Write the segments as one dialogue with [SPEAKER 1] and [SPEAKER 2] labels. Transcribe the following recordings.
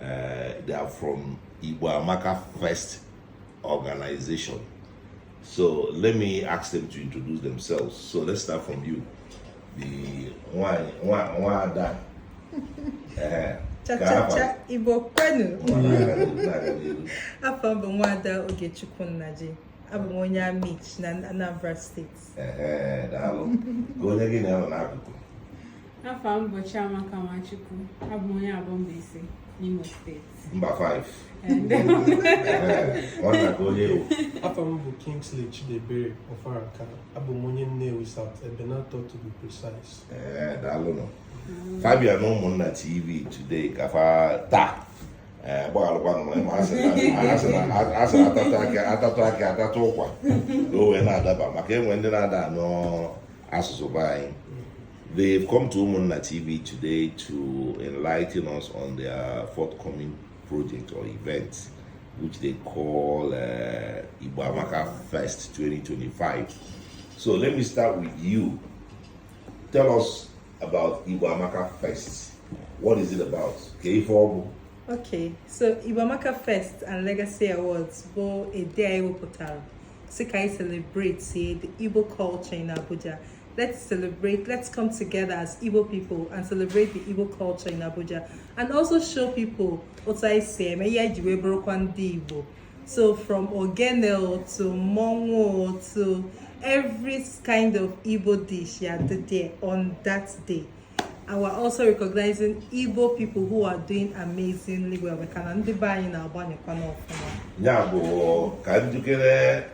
[SPEAKER 1] Uh, they are from Igbo Amaka Fest Organization. So let me ask them to introduce themselves. So let's start from you. The nwa, nwa, nwada. Uh,
[SPEAKER 2] cha cha cha Igbo kwenu. Afa m bụ nwada Ogechukwu Nnaji. Abụ m onye Amichi na Anambra State.
[SPEAKER 1] daalụ ka onye gị na ya nọ n'akụkụ afa
[SPEAKER 3] m bụ Chiamaka Nwachukwu abụ m onye Aboh Mbaise n'Imo State mba 5
[SPEAKER 1] nwanna ka onye ị bụ afa m
[SPEAKER 4] bụ Kingsley Chidebere Ofaraka abụ m onye Nnewi South Ebenator to be precise daalụ nụ
[SPEAKER 1] fa bịa na Ụmụnna TV today ka fa taa ee gbaghalụkwanụ na ị ma a sị a tatụ akị a tatụ akị a tatụ ụkwa ka o wee na-adaba maka enwe ndị na-ada anụ asụsụ be anyị They've come to Umunna TV today to enlighten us on their forthcoming project or event, which they call uh, Igbo Amaka Fest 2025. So let me start with you. Tell us about Igbo Amaka Fest. What is it about? Kee ife ọ
[SPEAKER 2] bụ Okay, so Igbo Amaka Fest and Legacy Awards bụ a day anyị wepụtara sị ka anyị celebratie the Igbo culture in Abuja. Let's celebrate, let's come together as Igbo people and celebrate the Igbo culture in Abuja and also show people otu anyị si eme ihe anyị ji wee bụrụkwa ndị Igbo. So from ogene to mmọnwụ to every kind of Igbo dish ya-adị there on that day. And we're also recognizing Igbo people who are doing amazingly well. Dịka ndị be anyị na-agbanyekwa n'ọfụma. Ya bụ ka njikere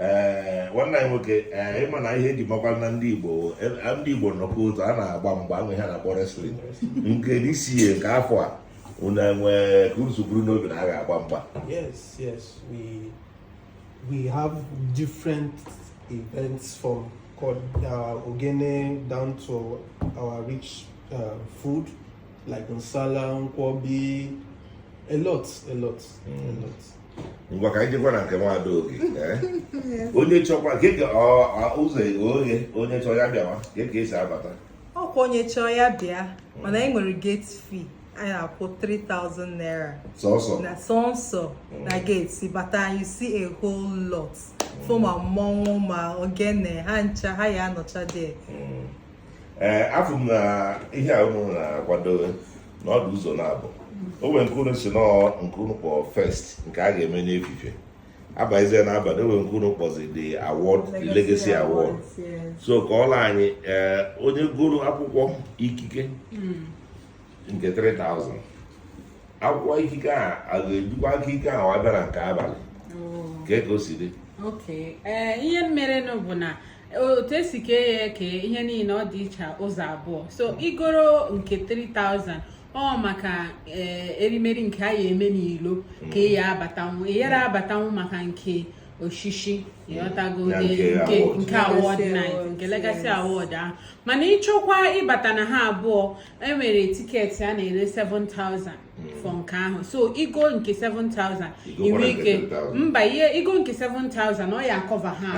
[SPEAKER 1] ee nwanne anyị nwoke ee ịma na ihe eji makwa na ndị Igbo e, ndị Igbo nnọkọ otu a na-agba mgba ahụ ihe a na-akpọ wrestling nke n'isi ihe nke afọ a unu enwee ka unu si buru n'obi na a ga-agba mgba yes yes
[SPEAKER 4] we we have different events from uh, ogene down to our rich uh, food like nsala nkwobi a lot a lot mm. a lot
[SPEAKER 1] ngwa ka anyị jekwa na nke nwada Oge eh? onye chọkwa keke ụzọ oghe onye chọọ ya bịawa kee ka esi abata ọkwa onye chọọ
[SPEAKER 2] ya bịa mana anyị nwere gate fee anyị na-akwụ 3000 naira sọsọ na sọsọ mm. na gate ị bata you see a whole lot fụ ma mmọnwụ ma ogene ha ncha ha ya anọcha there mm.
[SPEAKER 1] ee eh, afụ m na ihe a unu na-akwado na ọ dụ ụzọ naabọ o nwere nke unu si na nke unu kpọ fest nke a ga-eme n'efife abazie na abalị e nwere nke unu kpọzi the award the legacy award so kọwalụ anyị eh, onye goro akwụkwọ ikike hmm. nke 3000 akwụkwọ ikike a a ga-ejikwa ikike ahụ abịa na nke abalị oh. kee ka o si dị eh,
[SPEAKER 3] ihe merenụ bụ na otu e si kee ya eke ihe niile ọ dị iche ụzọ abụọ so i goro nke 3000 ọ maka eh, erimeri nke a ya eme n'ilo ka ị ya abatanwu ị yara abatanwu maka nke oshishi ị ghọtago Ya nke nke award. nke award Legacy night award, nke legacy yes. award ahụ mana ị chọkwa ịbata na ha abụọ e nwere tiketi a na-ere 7000 Mm. for nke ahụ so i go nke 7000 i nwe ike mba ihe i go nke 7000 ọ ya akọva ha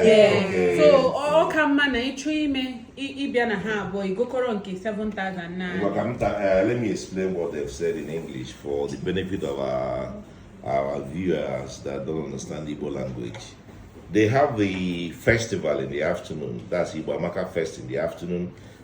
[SPEAKER 3] eh, so ọ ka mma na ị chọ ime ịbịa na ha abụọ i gokọrọ nke 7000 na eh, let me
[SPEAKER 1] explain what they've said in english for the benefit of our, our viewers that don't understand igbo language they have the festival in the afternoon that's Igbo Amaka Fest in the afternoon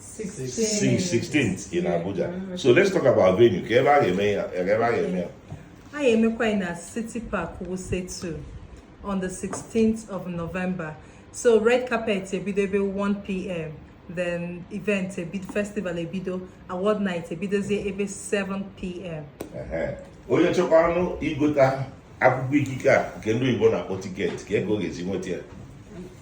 [SPEAKER 1] 16th in Abuja. Mm-hmm. So let's talk about venue. Kee ebe a ga-eme ya, ebe a
[SPEAKER 2] ga-eme ya. A ga-emekwa na City Park Wuse 2 on the 16th of November. So red carpet ebido ebe 1 p.m. Then event ebido festival ebido award night ebidozie ebe 7 p.m. Onye
[SPEAKER 1] chọkwanụ igota akwụkwọ ikike a nke ndị Igbo na-akpọ tiketi kee ka ọ ga-esi nweta ya.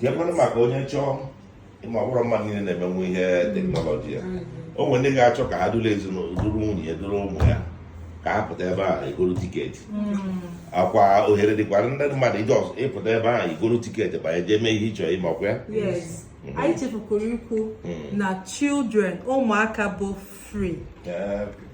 [SPEAKER 2] keekwanụ maka onye chọ ị ma ọ bụrọ mmadụ niile na-emenwu ihe teknọlọji a o nwere ndị ga-achọ ka ha duru ezinụlọ duru nwunye ya duru ụmụ ya ka ha pụta ebe a egoro tiketi hmm. ọkwa ohere dịkwara ndị mmadụ ije ọzọ ịpụta ebe a igoro tiketi banye jee mee ihe ị chọrọ ime ọkwa ya hmm. anyị chefukwara ikwu hmm. na children ụmụaka bụ free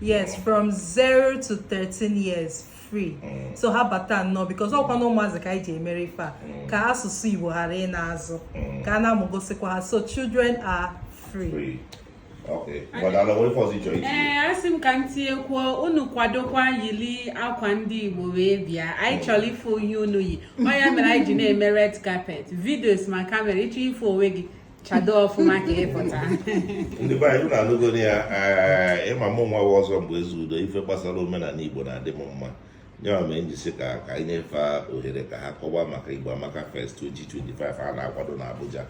[SPEAKER 2] yes from 0 to 13 years free mm. so ha bata nnọọ because ọkwa na ụmụazị ka anyị ji emere ife a mm. ka asụsụ igbo ghara ịna azụ mm. ka a na-amụgosikwa ha so children are free
[SPEAKER 1] ee asị m ka
[SPEAKER 3] m tinyekwuo unu kwadokwa yili akwa ndị igbo wee bịa anyị chọrọ ịfụ ihe unu yi ọ ya mere anyị ji na-eme red carpet videos ma kamera ị chọ ịfụ onwe gị chado ọfụma ka ị pụta ndị be
[SPEAKER 1] anyị unu anụgonụ ya eh, ị ma mụnwa ọzọ mgbe Ezeudo ife gbasara omenala igbo na-adị m mma ya mee m ji sị ka ka anyị nyefe ohere ka ha kọwa maka igbo amaka fest 2025 a na-akwado na abuja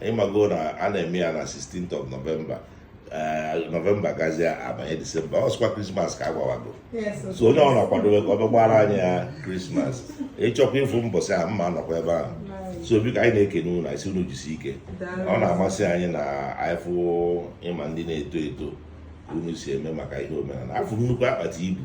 [SPEAKER 1] ị mago na a na-eme ya na 16th of novemba nọvemba gazie abanye disemba ọ sịkwa krismas ka a gwawago so onye ọbụna kwadobe ka ọ bịa gbaara anyị ya krismas ị chọkwa ịfụ m bọsị a m ma-anọkwa ebe ahụ so biko anyị na-ekene unu anyị sị unu jisi ike ọ na-amasị anyị na anyị fụ ịma ndị na-eto eto unu si eme maka ihe omenala afụ nnukwu akpati ibu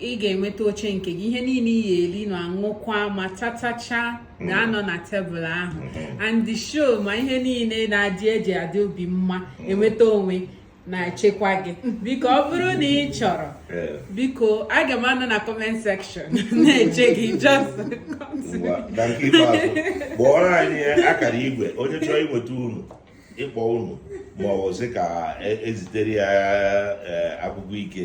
[SPEAKER 3] ị ga-enweta oche nke gị ihe niile ị ya-eli na aṅụkwa ma tatacha ga-anọ na tebụl ahụ and the show ma ihe niile na-adị e ji adị obi mma enweta onwe na-echekwa gị biko ọ bụrụ na ị chọrọ biko aga m anọ na comment section na-eche gị
[SPEAKER 1] just kpọọrọ anyị akara igwe onye chọrọ inweta unu ịkpọ unu ma ọ bụ sị ka e, e zitere ya e, akwụkwọ ike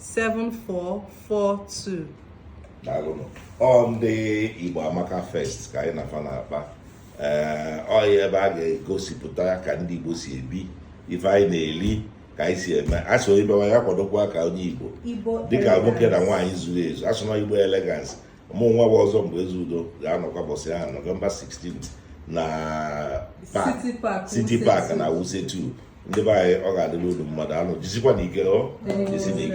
[SPEAKER 2] 7442
[SPEAKER 1] daalụnụ ọ ndị Igbo Amaka Fest ka anyị na fa na-akpa ee ọ ya ebe a ga-egosipụta ka ndị Igbo si ebi ife anyị na-eli ka anyị si eme a sị onye bịawa ya kwadokwa ka onye igbo dịka nwoke na nwaanyị zuru ezu a sị na ọ igbo elegance mụnwa bụ ọzọ mgbe eze udo ga-anọkwa bọsị ahụ nọvemba 16 na city park na wuse 2 ndị be anyị ọ ga-adịrị unu mma daalụnụ jisikwanụ ike jisinụ ike